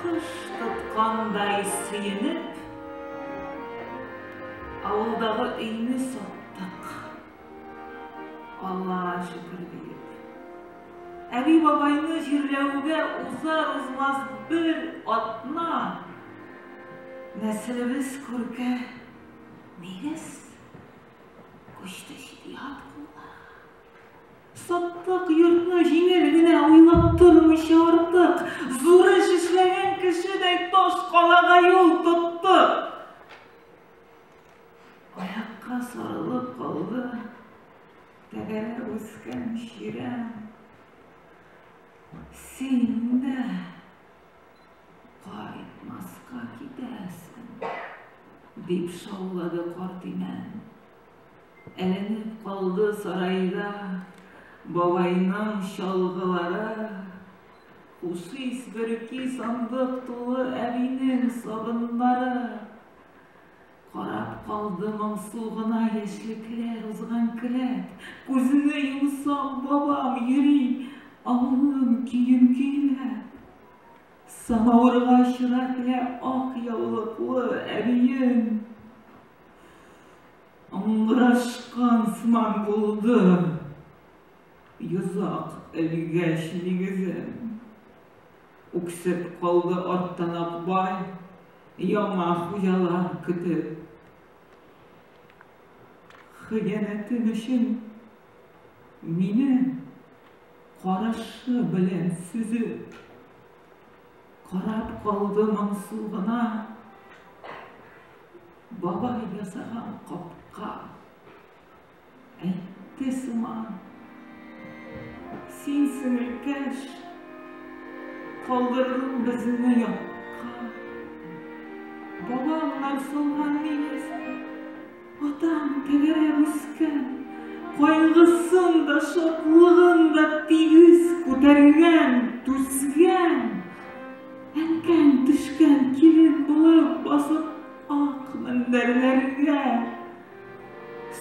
Кош тоткандай сөенеп, авылдагы өйне саттык. Алла шөкер диеп. Әби бабайны җирләүгә узар-узмас бер атна нәселебез күркә нигез күчте чит-ят кулларга. Саттык йортны җиңел генә уйлап тормыйча артык, зур эш эшләгән кешедәй таш калага юл тоттык. Аякка сарылып калды тәгәрәп үскән чирәм. Син дә кайтмаска китәсең, дип шаулады карт имән. Әйләнеп калды сараеда бабайның чалгылары. Хушис бөрки сандык тулы әбинең сабыннары. Карап калды моңсу гына яшьлекләр узган келәт. Күзне йомсам, бабам йөри авылның көен көйләп. Самавырга чыра теләп ак яулыклы әбием. Аңгырашкан сыман булды. Йозак элгәч нигезен. Үксеп калды арттан Акбай, яңа хуҗалар көтеп. Хыянәтем өчен мине карашы белән сөзеп. Карап калды моңсу гына Бабай ясаган капка. Әйтте сыман, син сеңелкәш, Калдырдың безне якка. Бабамнар соңган миясен, Атаң тәгәрәп үскән, кайгысын да, шатлыгын да тигез күтәргән, түзгән. Әнкәң төшкән килен булып басып ак мендәрләргә.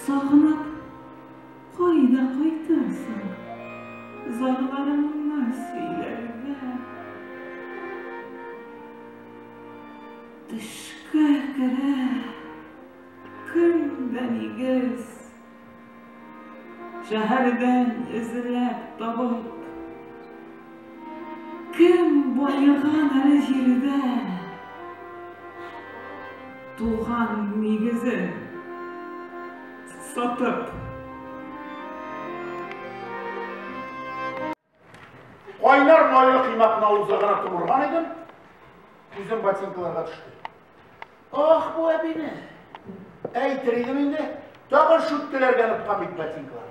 Сагынып, кайда кайтырсың, зарларыңны сөйләргә. Төшкә керә. Көн дә нигез. Шәһәрдән эзләп табып. Кем баеган әле җирдә? Туган нигезен сатып. Кайнар майлы кыймакны авызда гына томырган идем, күзем ботинкаларга төште. Ах, бу әбине! Әйтер идем инде, тагын шүткеләргә ныткан бит ботинкалар.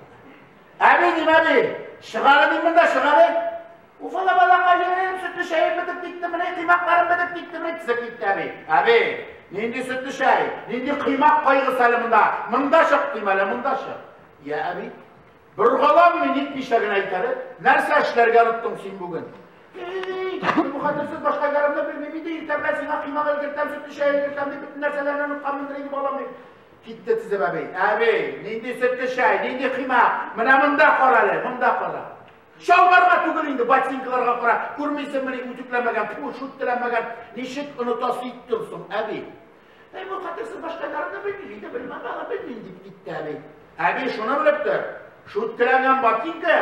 Әби, дим, әби, чыгары дим монда, чыгары. Уфала балакайым, сөтле чәем бетеп китте, менә кыймакларым бетеп китте, менә кисеп китте, әби. Әби, нинди сөтле чәй, нинди кыймак кайгысы әле монда, монда чык, дим әле, монда чык. Я, әби, Боргаланмый нитмичә генә әйтәле, нәрсә эшләргә оныттың син бүген? Бу хатынсыз башка гарымны белмим инде, иртә белән сиңа кыймак өлгертәм, сөт эчә өлгертәм дип бөтен нәрсәләрне онытканмындыр инде балам дип. Китте тизеп әби. Әби, нинди сөт эчә, нинди кыймак? Менә монда кара әле, монда кара. Чалбарга түгел инде, ботинкаларга кара. Күрмисеңмени үтүкләмәгән, шүттеләмәгән. Ничек оныта ситтем соң, әби? Әй, бу хатырсыз башкайларын да белмим, инде бер мамала белмим, дип китте әби. Әби шуны белеп тор, шүткерәгән ботинка,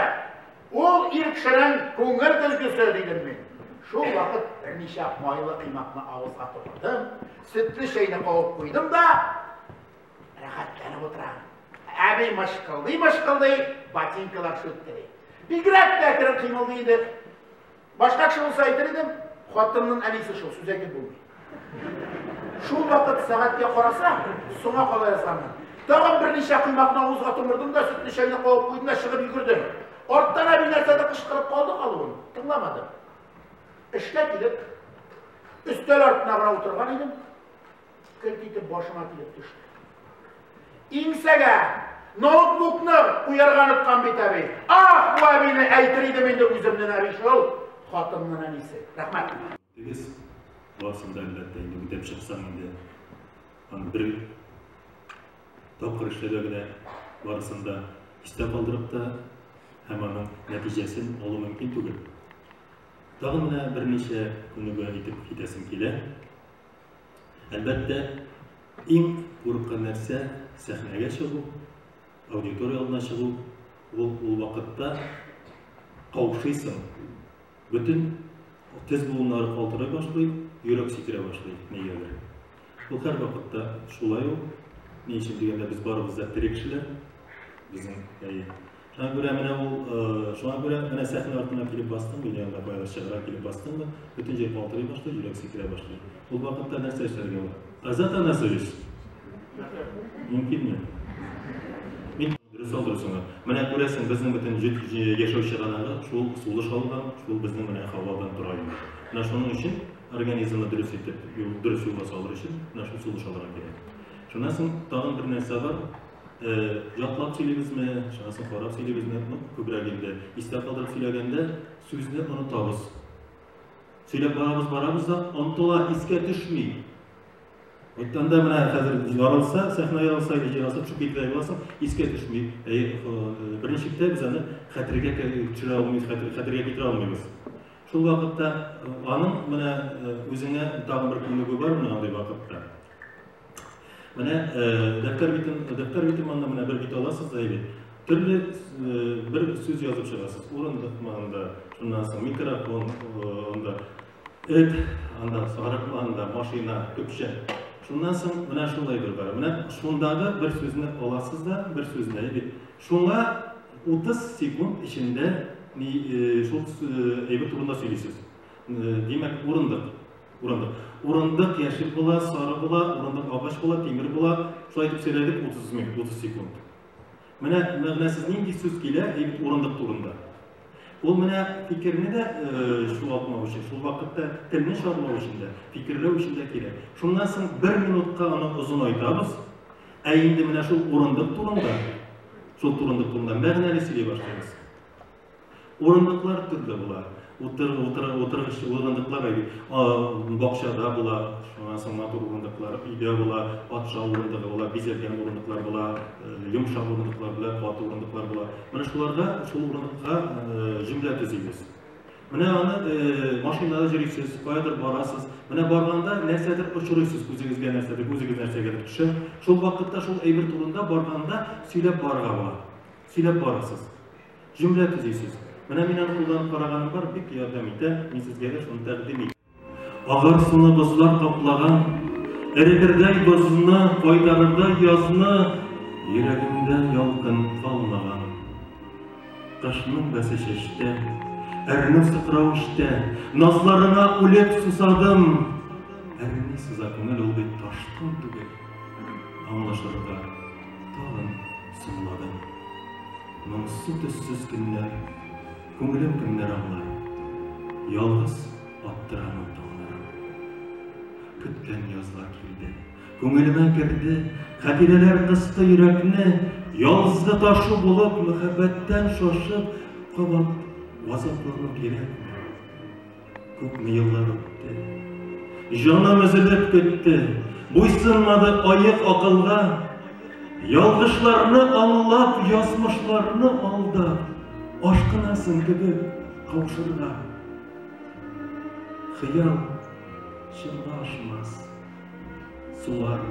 ул ир кешенең күңел көлкесе, дидем мин. Шул вакыт берничә майлы кыймакны авызга тотырдым, сөтле чәйне кабып куйдым да, рәхәтләнеп утырам. Әби мышкылдый-мышкылдый ботинкалар сүттери. Бигрәк тә кереп кыймылдый иде. Башка кеше булса әйтер идем, хатынның әнисе шул, сүз әйтеп булмый. Шул вакыт сәгатькә карасам, соңа кала язганмын. Тагын берничә коймакны авызга томырдым да, сөтле чәйне кабып куйдым да чыгып йөгердем. Арттан әби нәрсәдер кычкырып калды калуын, тыңламадым. Эшкә килеп, өстәл артына гына утырган идем. Кырт итеп башыма килеп төште. Иңсәгә ноутбукны куярга оныткан бит әби. Ах, бу әбине әйтер идем инде үземнен әби шул. Хатыннын әнисе. Рәхмәт. Дигез, барсын да әлбәттә инде үтәп чыксаң инде. Аны бер тапкыр эшләгә генә барысын да истә калдырып та һәм аның нәтиҗәсен алу мөмкин түгел. Тагын менә берничә күнегү итеп китәсем килә. Әлбәттә, иң куркы нәрсә сәхнәгә чыгу, аудитория алдына чыгу. Ул, ул вакытта каушыйсың. Бөтен тез буыннары калтырый башлый, йөрәк сикерә башлый нигәдер. Ул һәр вакытта шулай ул. Ни өчен дигәндә, без барыбыз да тере кешеләр. Безнең әйе. Шуңа күрә менә ул, шуңа күрә менә сәхнә артына килеп бастым, мин янда баягы чыгара килеп бастым да, бөтен җир калтырый башлый, йөрәк сикерә башлый. Ул вакытта нәрсә эшләргә була? Азат Анасович. Мөмкинме? Мин дөрес алдыр соңа. Менә күрәсең, безнең бөтен яшәү чыганагы шул сулыш алган, шул безнең менә һавадан тора инде. Менә шуның өчен организмны дөрес итеп, дөрес юлга салыр өчен менә шул сулыш алырга кирәк. Шуннан соң тагын бер нәрсә бар, Ятлап сөйлибезме, чарасын карап сөйлибезме, ну, күбрәк инде. Истә калдырып сөйләгәндә, сүзне онытабыз. Сөйләп барабыз, барабыз да, онтыла, искә төшми. Айтканда менә хәзер ярылса, сәхнә ярылса, или җирасып чүп китә буласың, искә төшми. Әй, беренче китә без аны хәтергә төшерә алмыйбыз, хәтергә китерә алмыйбыз. Шул вакытта аның менә үзеңә тагын бер күнегү бар менә андый вакытта. Менә дәфтәр битен, дәфтәр битен монда менә бер бит аласыз да әйбит. Төрле бер сүз язып чыгасыз. Урындык манда, шуннан соң микрофон, анда эт, анда сарык, анда машина, көпшә. Шуннан соң менә шулай бер бар. Менә шундагы бер сүзне аласыз да, бер сүзне әйбит. Шуңа 30 секунд эчендә шул әйбер турында сөйлисез. Димәк, урындык. Урындык. Урындык яшел була, сары була, урындык агач була, тимер була. Шулай итеп сөйләдек 30 минут, 30 секунд. Менә мәгънәсез нинди сүз килә, әйбит урындык турында. Ул менә фикерне дә чуалтмау э, өчен, шул вакытта телне чармау өчен дә, фикерләү өчен дә кирәк. Шуннан соң бер минутка аны озын айтабыз, ә инде менә шул урындык турында, шул турындык турында мәгънәле сөйли башлыйбыз. Урындыклар төрле була. Утыр, утыр, утыргыч урындыклар бакчада була, шуннан соң матур урындыклар өйдә була, патша урындыгы була, бизәлгән урындыклар була, йомшак урындыклар була, каты урындыклар була. Менә шуларда шул урындыкка җөмлә төзибез. Менә аны машинада җөрисез, каядыр барасыз. Менә барганда нәрсәдер очырыйсыз, үзегезгә нәрсәдер, үзегез нәрсәгә төшә. Шул вакытта шул әйбер турында барганда сөйләп барырга була. Сөйләп барасыз. Җөмлә төзисез. Менә мин аны кулланып караганым бар, бик ярдәм итә. Мин сезгә дә шуны тәкъдим итәм. Агар суны бозлар каплаган, Эретердәй бозны, кайтарырдай язны, Йөрәгемдә ялкын калмаган. Кышның бәсе чәчтә, Әрнү сыкрау эчтә, Назларыңа үлеп сусадым. Әрнү сыза күңел, ул бит ташкын түгел, Аңлашырга. Тагын соңлады. Моңсу төссез көннәр, Күңелем кемнәр аңлар? Ялгыз аптырамын таңнарым. Көткән язлар килде, Күңелемә керде, Хәтирәләр кысты йөрәкне, Язды ташу булып, Мәхәббәттән шашып, Кабат газаплану кирәкме? Күпме еллар үтте. Җаным өзелеп көтте. Буйсынмады аек акылга. Ялгышларны аңлап, язмышларны алда. Ашкынасың кебек каушырга. Хыял чынга ашмас. Сулар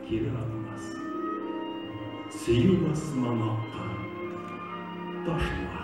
кире атмас. Сөю басмамакка ташла.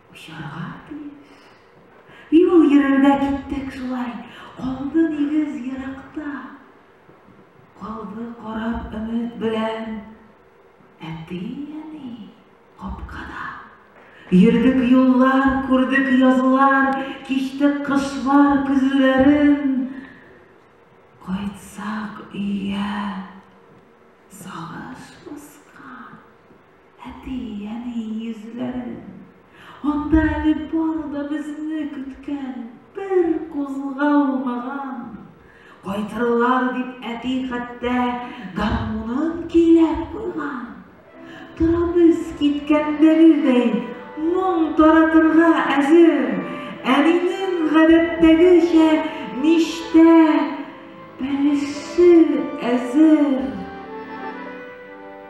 Очарга тиеш. И ул йөрергә киттек шулай, калды нигез еракта. Калды карап өмет белән әти-әни капкада. Йөрдек юллар, күрдек язлар, кичтек кышлар көзләрен. Кайтсак өйгә, сагыш баскан. Әти, әни йөзләрен. Анда әле бары да безне көткән бер кузгалмаган. Кайтырлар дип әти хәтта гармунын көйләп куйган. Торабыз киткәндәгедәй моң таратырга әзер. Әнинең гадәттәгечә миштә бәлеше әзер.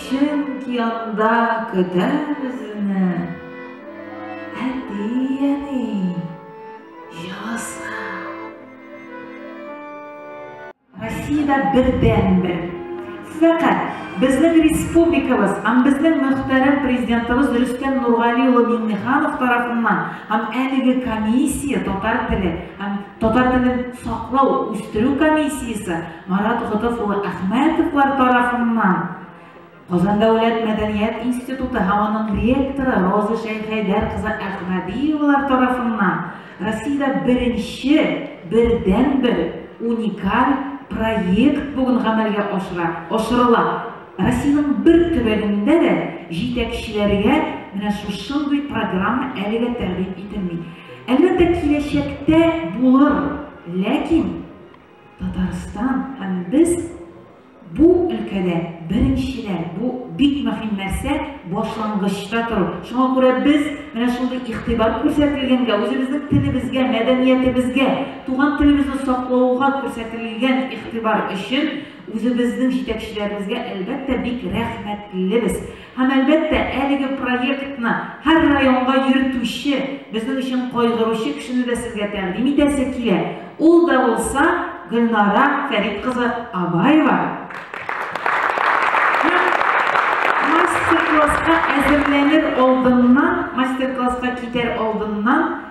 Чөнки анда көтә безне әти-әни җылысы. Россиядә бердәнбер. Фәкать безнең республикабыз һәм безнең мөхтәрәм президентыбыз Рөстәм Нургали улы Миңнеханов тарафыннан һәм әлеге комиссия татар теле һәм татар телен саклау, үстерү комиссиясе Марат Котов улы Әхмәтовлар тарафыннан Казан дәүләт мәдәният институты һәм аның ректоры Роза Шәйхәйдәр кызы Әхмәдиевалар тарафыннан Россиядә беренче, бердәнбер уникаль проект бүген гамәлгә ашыра, ашырыла. Россиянең бер төбәгендә дә җитәкчеләргә менә шушындый программа әлегә тәкъдим ителми. Әлбәттә, киләчәктә булыр, ләкин Татарстан һәм без бу өлкәдә беренчеләр, бу бик мөһим нәрсә, башлангычта тору. Шуңа күрә без менә шундый игътибар күрсәтелгәнгә, үзебезнең телебезгә, мәдәниятебезгә, туган телебезне саклауга күрсәтелгән игътибар өчен үзебезнең җитәкчеләребезгә, әлбәттә, бик рәхмәтлебез. Һәм, әлбәттә, әлеге проектны һәр районга йөртүче, безнең өчен кайгыручы кешене дә сезгә тәкъдим итәсе килә, ул да булса Гөлнара Фәрит кызы Абаева. Һәм мастер-класска әзерләнер алдыннан, мастер-класска китәр алдыннан,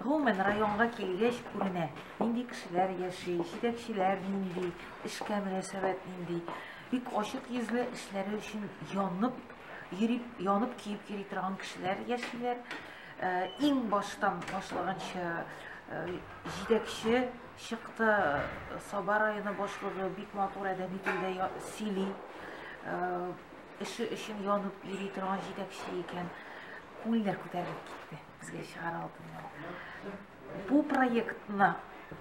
Гомумән, районга килгәч күренә, нинди кешеләр яши, җитәкчеләр нинди, эшкә мөнәсәбәт нинди. Бик ачык йөзле, эшләре өчен янып йөри, янып-көеп йөри торган кешеләр яшиләр. Э, иң баштан башлаганча э, җитәкче чыкты, Саба районы башлыгы бик матур әдәби телдә сөйли. Э, эше өчен янып йөри торган җитәкче икән. Күңелләр күтәрелеп китте. Безгә чыгар алдыннан бу проектны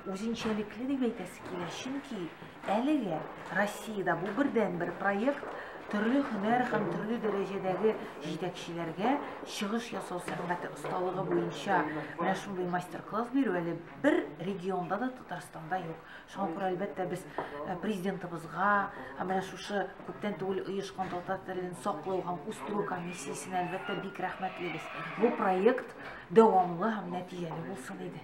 үзенчәлекле дип әйтәсе килә, чөнки әлегә Россиядә бу бердән бер проект төрле һөнәр һәм төрле дәрәҗәдәге җитәкчеләргә чыгыш ясау сәнгате осталыгы буенча менә шундый мастер-класс бирү әле бер регионда да Татарстанда юк. Шуңа күрә, әлбәттә, без э, президентыбызга, ә менә шушы күптән түгел оешкан татар телен саклау һәм үстерү комиссиясенә, әлбәттә, бик рәхмәтлебез. Бу проект дәвамлы һәм нәтиҗәле булсын иде.